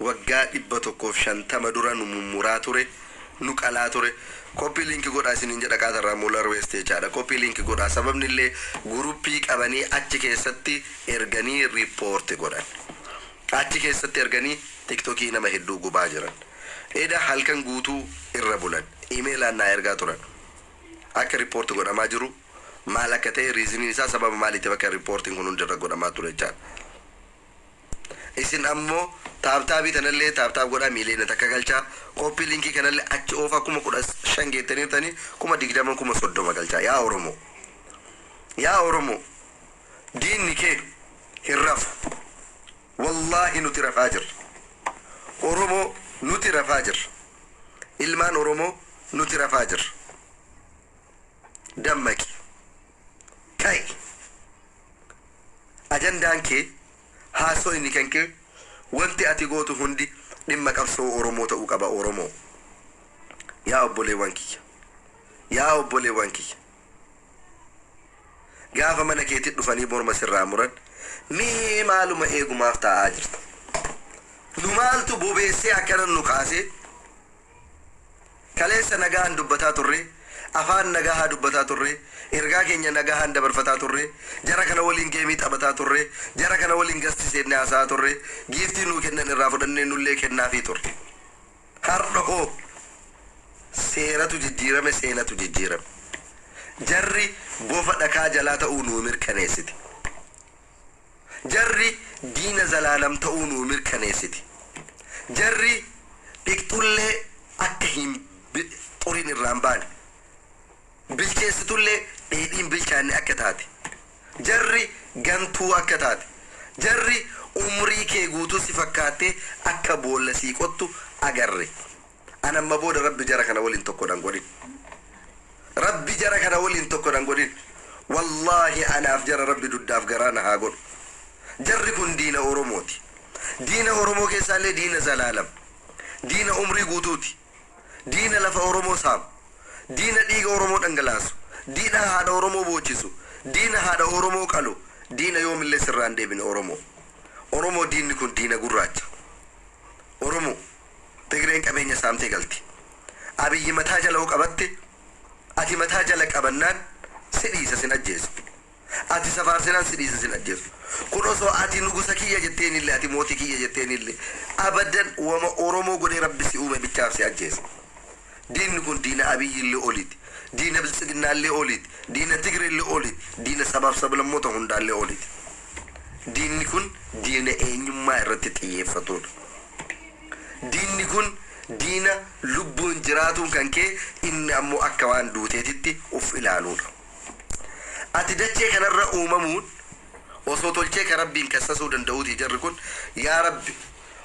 Waggaa 150 dura nu mummuraa ture, nu qalaa ture. Copy link godhaa isiniin jedha qaata irraa molar waste jechaadha. Copy link godhaa sababni illee guruppii qabanii achi keessatti erganii report godhan. Achi keessatti erganii tiktokii nama hedduu gubaa jiran. Eda halkan guutuu irra bulan. Emailaan naa ergaa turan. Akka report godhamaa jiru maal akka ta'e reasoniin isaa sababa maaliitiif akka reporting kun hundi irra godhamaa ture jechaadha. Isin ammo taaptaabii tanallee taaptaap godhaa miiliyoona takka galchaa copy linkii kanallee achi oofaa kuma 15 geettaniirtani kuma 20 kuma 30 galchaa yaa oromoo yaa oromoo diinni kee hin rafu wallaahi nuti rafaa jirra oromoo nuti rafaa jirra ilmaan oromoo nuti rafaa jirra dammaqi. Ta'i. Ajandaan kee, haasoyni kenkee, wanti ati gootu hundi dhimma qabsoo Oromoo ta'uu qaba Oromoo. Yaa obboleewwan kiyya. Yaa obboleewwan kiyya. Gaafa mana keetti dhufanii morma sirraa muran mee maaluma eegu maaf taa'aa jirta? Nu maaltu bobeessee akkana nu kaasee? Kaleessa nagahaan dubbataa turre, afaan nagahaa dubbataa turre, ergaa keenya nagahaan dabarfataa turre, jara kana waliin geemii taphataa turre, jara kana waliin gasti seennee haasa'aa turre, giiftii nuu kennan irraa fudhannee nullee kennaafii turre. Har'a hoo? Seeratu jijjiirame, seenatu jijjiirame. Jarri bofa dhakaa jalaa ta'uu nuu mirkaneessite. Jarri diina zalaalam ta'uu nuu mirkaneessiti. Jarri dhiqxullee akka hin xurin irraa hin baane. Bilcheessitullee dheedhii hin bilchaanne akka taate. Jarri gantuu akka taate. Jarri umrii kee guutuu si fakkaattee akka boolla sii qottu agarre. An amma booda rabbi jara kana waliin tokko nan godhin rabbi jara kana waliin tokko nan godhin wallahi anaaf jara rabbi duddaaf garaa na haa godhu jarri kun diina oromooti diina oromoo keessaallee diina zalaalam diina umrii guutuuti diina lafa oromoo saamu diina dhiiga oromoo dhangalaasu diina haadha oromoo boochisu diina haadha oromoo qalu diina yoomillee sirraan deebine oromoo oromoo diinni kun diina gurraacha oromoo Tigreen qabeenya saamtee galti. Abiyyi mataa jala yoo qabatte ati mataa jala qabannaan si dhiisa sin ajjeesu. Ati isa faarsinaan si dhiisa sin ajjeesu. Kun osoo ati nugusa kiyya jetteenillee ati mootii kiyya jetteenillee abadan wama Oromoo godhee Rabbi si uume bichaaf si ajjeesa. Diinni kun diina Abiyyillee oliti. Diina Biltsiginnaallee oliti. Diina Tigreellee oliti. Diina sabaaf sablammoota hundaallee oliti. Diinni kun diina eenyummaa irratti xiyyeeffatuudha. Diinni kun diina lubbuun jiraatuun kan ka'e inni ammoo akka waan duuteetitti uf ilaaluudha. Ati dachee kanarra uumamuun osoo tolchee ka Rabbiin kassasuu danda'uutii jarri kun yaa Rabbi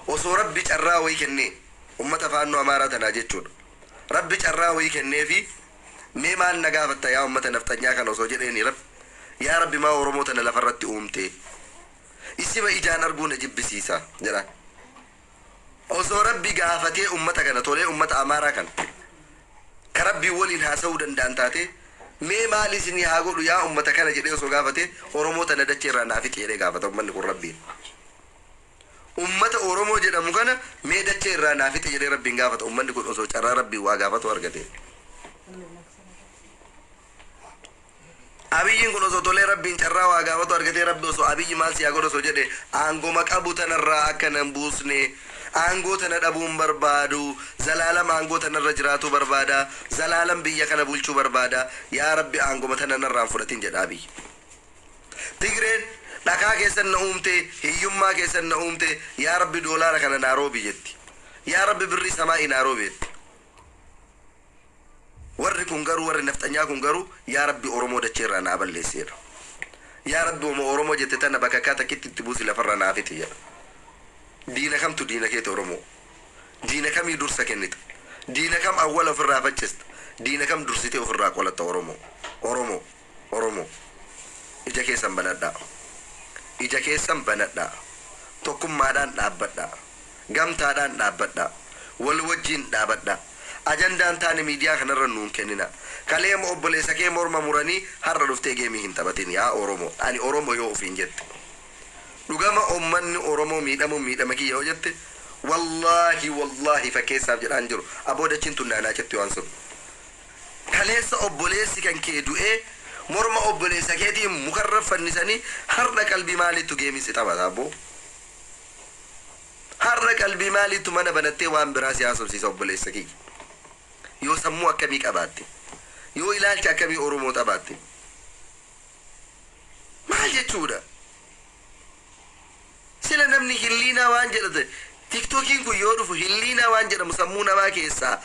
osoo Rabbi carraa wayii kennee ummata Faannoo Amaaraa tanaa jechuudha Rabbi carraa wayii kenneefii mee maal na gaafatta yaa ummata nafxanyaa kana osoo jedheenii Rabbi yaa Rabbi maa Oromoo tana lafarratti uumtee Isima ijaan arguu na jibbisiisa jedhaan. Osoo Rabbi gaafatee ummata kana tolee ummata Amaaraa kana ka Rabbiin waliin haasawuu danda'an taatee mee maal isinii haa godhu yaa ummata kana jedhee osoo gaafatee Oromoo tana dachee irraa naa fixi jedhee gaafata ummanni kun Rabbiin. Ummata Oromoo jedhamu kana mee dachee irraa naa fixi jedhee Rabbiin gaafata ummanni kun osoo carraa Rabbiin waa gaafatuu argatee. Abiyyiin kun osoo tolee rabbiin carraa waa gaafatu argatee rabbi osoo abiyyi maal si haa godhu osoo jedhe aangoma qabu tanarraa akka nan buusne aangoo tana dhabuu hin barbaadu zalaalam aangoo tanarra jiraatuu barbaada zalaalam biyya kana bulchuu barbaada yaa rabbi aangoma tana narraa hin fudhatin jedha abiyyi Tigreen dhakaa keessan na uumte hiyyummaa keessan na uumte yaa rabbi doolaara kana naa roobi jetti yaa rabbi birrii samaa'i naa roobi jetti. Warri kun garuu warri nafxanyaa kun garuu yaa rabbi oromoo dachee irraa naa balleessi jedha. Yaa rabbi wama oromoo jette tana bakakkaa takkitti itti buusi lafarraa naa fixi jedha. Diina kamtu diina keeti oromoo? Diina kamii dursa kennita? Diina kam awwala ofirraa faccista? Diina kam dursitee ofirraa qolatta oromoo? Oromoo. Oromo. Ija keessan banadhaa. Ija keessan banadhaa. Tokkummaadhaan dhaabbadhaa. Gamtaadhaan dhaabbadhaa. Wal wajjiin dhaabadhaa. Ajandaa hin taane miidiyaa kana irra nuun kenninaa. Kalee obboleessa kee morma muranii har'a dhuftee geemii hin taphatiin yaa Oromo. Ani Oromo yoo ofiin jette. Dhugama ummanni Oromo miidhamuun miidhama kiyya yoo jette wallaahi wallaahi fakkeessaaf jedhaa hin jiru. Aboo dachiin tun naanaa cetti waan sun. Kaleessa obboleessi kan kee du'ee morma obboleessa keetii mukarra fannisanii har'a qalbii maaliittu geemii si taphata abboo? Har'a qalbii maaliittu mana banattee waan biraa si haasofsiisa obboleessa kiyya? Yoo sammuu akkamii qabaatte? Yoo ilaalcha akkamii Oromoo xabaatte? Maal jechuudha? Sila namni hilliinaa waan jedha ta'e tiktokiin kun yoo dhufu hilliinaa waan jedhamu sammuu namaa keessaa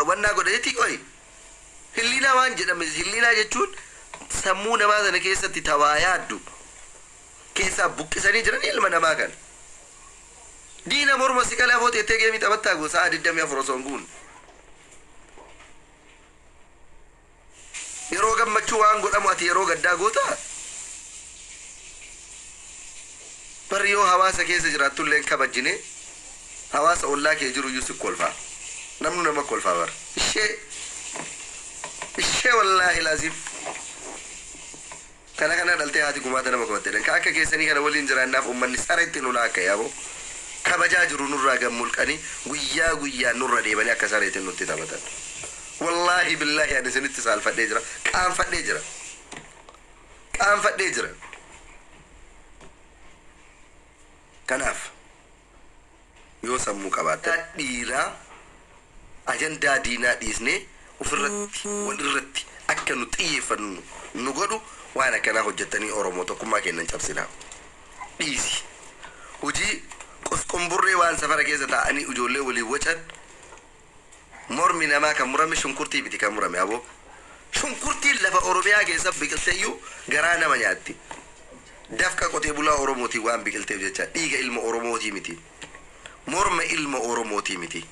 wannaa godha jetti qoyi? Hilliinaa waan jedhame hilliinaa jechuun sammuu namaa sana keessatti ta waa yaaddu keessaa buqqisanii jiranii ilma namaa kana. Diina morma si qalee afoo teettee geemii taphattaa goo sa'aa 24 osoo hin guunne. Yeroo gammachuu waan godhamu ati yeroo gaddaa gootaa? Bar yoo hawaasa keessa jiraattullee hin kabajjine hawaasa ollaa kee jiruyyuu si kolfa. Namnu nama kolfa bar. Ishee! Ishee wallaahil aziim. Kana kana dhaltee haati gumaata nama qabatte jedhan. Ka akka keessanii kana waliin jiraannaaf ummanni sareetti nu laakka'e aboo. Kabajaa jiru nurraa gad mulqanii guyyaa guyyaan nurra deemanii akka sareetiin nutti taphatan. Wallaahi billaahi ani isinitti saalfadhee jira, qaanfadhee jira. Qaanfadhee jira. Kanaaf. yoo sammuu qabaattan. Yaa dhiiraa ajandaa diinaa dhiisnee ufirratti, wal irratti akka nu xiyyeeffannu nu godhu waan akkanaa hojjattanii Oromoo tokkummaa keenna hin cabsinaa. Dhiisi. Hujii qosqonburree waan safara keessa taa'anii ujoollee waliin wacan. Mormi namaa kan murame shunkurtii miti kan murame aboo. Shunkurtiin lafa Oromiyaa keessa biqilteyyuu garaa nama nyaatti. Dafqa qotee bulaa Oromootiin waan biqilteef jecha. Dhiiga ilma Oromootii miti. Morma ilma Oromootii miti.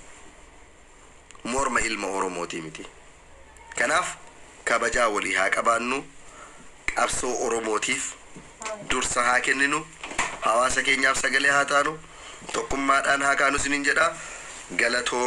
Morma ilma Oromootii miti. Kanaaf kabajaa walii haa qabaannu, qabsoo Oromootiif dursa haa kenninu, hawaasa keenyaaf sagalee haa taanu, tokkummaadhaan haa kaanu isiniin jedha. Galatooma.